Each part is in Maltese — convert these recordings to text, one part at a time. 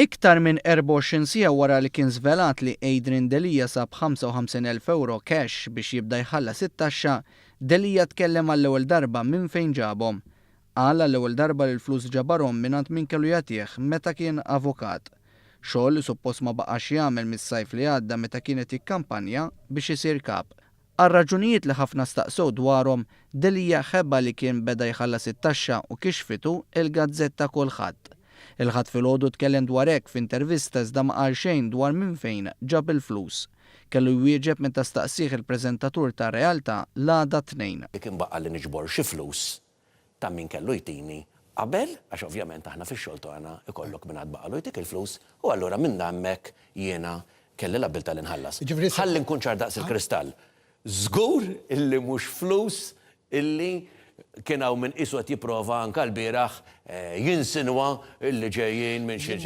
Iktar minn 24 siegħa wara li kien żvelat li Adrian Delia sab 55 elf ewro cash biex jibda jħallas it-taxxa, Delia tkellem għall-ewwel darba minn fejn ġabhom. Qal għall-ewwel darba li l-flus ġabarhom minn għand min kellu jagħtih meta kien avukat. Xogħol li suppost ma baqax jagħmel mis-sajf li għadda meta kien qed jikkampanja biex isir kap. Għal raġunijiet li ħafna staqsew dwarhom, Delia ħeba li kien beda jħallas it-taxxa u kixfitu il-gazzetta Kulħadd. Il-Ħadd filgħodu tkellem dwar hekk f'intervista iżda ma qal xejn dwar minn fejn ġab il-flus. Kellu jwieġeb meta staqsieh il-preżentatur ta' Realtà l-għada t-Tnejn. Dik inbaqa' li niġbor xi flus ta' min kellu jtini qabel, għax ovvjament aħna fix-xogħol tagħna ikollok min għad baqalu jtik il-flus, u allura minn hemmhekk jiena kelli l-abbiltà li nħallas. Ħalli nkun ċar daqs il-kristall, żgur illi mhux flus illi kien hawn min qisu qed jipprova anke lbieraħ jinsinwa illi ġejjin minn xi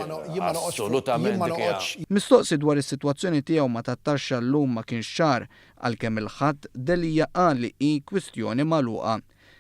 Assolutament dik hija. Mistoqsi dwar is-sitwazzjoni tiegħu ma' tat-taxxa llum ma kienx ċar, għalkemm il-Ħadd Delia qal li hi kwistjoni magħluqa.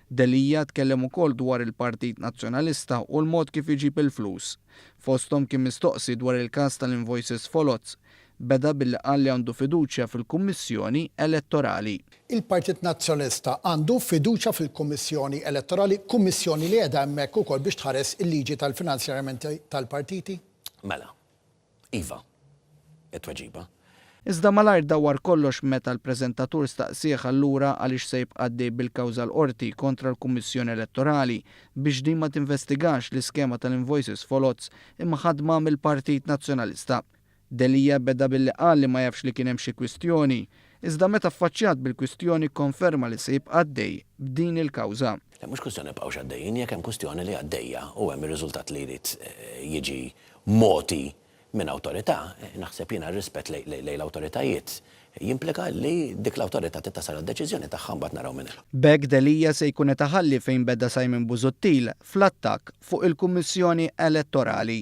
Delia tkellem ukoll dwar il-Partit Nazzjonalista u l-mod kif iġib il-flus. Fosthom kien mistoqsi dwar il-każ tal-invoices foloz. Beda billi qal li għandu fiduċja fil-Kummissjoni Elettorali. Il-Partit Nazzjonalista għandu fiduċja fil-Kummissjoni Elettorali, kummissjoni li qiegħda hemmhekk ukoll biex tħares il-liġi tal-finanzjaramenti tal-partiti? Mela. Iva, it-tweġiba. Iżda malajr dawwar kollox meta l-preżentatur staqsieh allura għaliex se jibqa' għaddej bil-kawża l-Qorti kontra l-Kummissjoni Elettorali biex din ma tinvestigax l-iskema tal-invoices foloz imħaddma mill-Partit Nazzjonalista. Delia beda billi qal li ma jafx li kien hemm xi kwistjoni, iżda meta ffaċċjat bil-kwistjoni kkonferma li se jibqa' għaddej b'din il-kawża. Le, mhux kwistjoni nibqgħux għaddejjin, jekk hemm kwistjoni li għaddejja u hemm ir-riżultat li jrid jiġi mogħti minn awtorità, naħseb jiena r-rispett lejn l-awtoritajiet jimplika li dik l-awtorità trid tasal għad-deċiżjoni tagħha u mbagħad naraw minn hemm. B'hekk Delia se jkun qed iħalli fejn beda Simon Busuttil fl-attakk fuq il-Kummissjoni Elettorali.